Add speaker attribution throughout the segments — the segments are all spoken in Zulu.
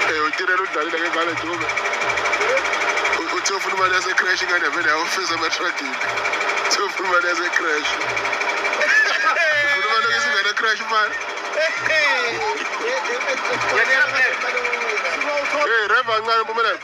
Speaker 1: Eh uTirelo udlalile ke ngale Dube. Uthe ufuna imali yase crash ingane vele awufisa ama trucking. Uthe ufuna imali yase crash. Ufuna imali yase ingane crash manje. Hey, Reva ngane mpumelelo.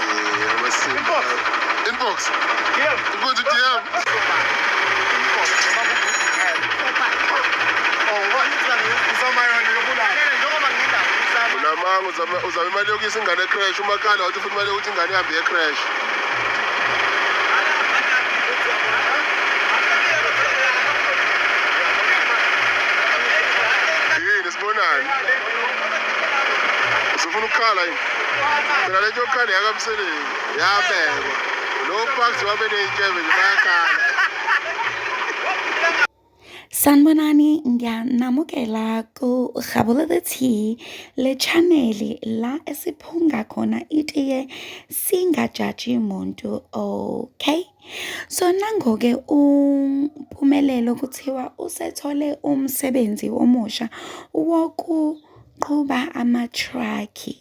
Speaker 1: Inbox. Inbox. DM. Inbox DM. Inbox. unamanga uzama uzama imali yokuyisa ingane ecrash umakhala wathi ufuna imali yokuthi ingane ihambe yecrash yini sibonani usufuna ukukhala yini Ngale nje yokuqala yakamseleni yabekwa. Lo Bucks wabe ney'nkebe nje bayakhala.
Speaker 2: Sanibonani ngiyanamukela ku-Rhabolele T le channel la esiphunga khona itiye singajaji muntu okay So nangoke uMpumelelo kuthiwa usethole umsebenzi omusha wokuqhuba amathrakhi.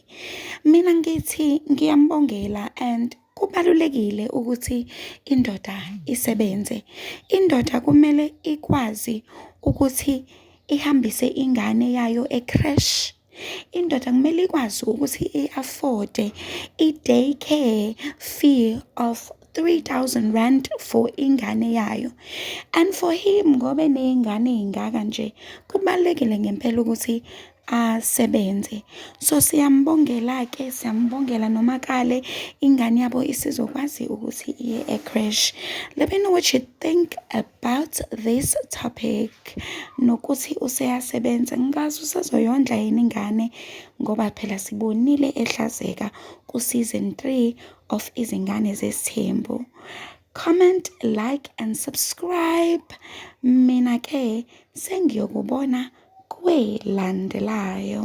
Speaker 2: Mina ngithi ngiyambongela and kubalulekile ukuthi indoda isebenze. Indoda kumele ikwazi ukuthi ihambise ingane yayo e-creche Indoda kumele ikwazi ukuthi i-afode i-day care fee of 3000 rand for ingane yayo and for him ngoba eney'ngane ey'ngaka nje kubalulekile ngempela ukuthi asebenze so siyambongela-ke siyambongela noma kale ingane yabo isizokwazi ukuthi iye ecrash let me know what you think about about this topic nokuthi useyasebenza ngikazi usazoyondla yini ingane ngoba phela sibonile ehlazeka ku-season 3 of izingane zesithembu comment like and subscribe mina ke sengiyokubona kwelandelayo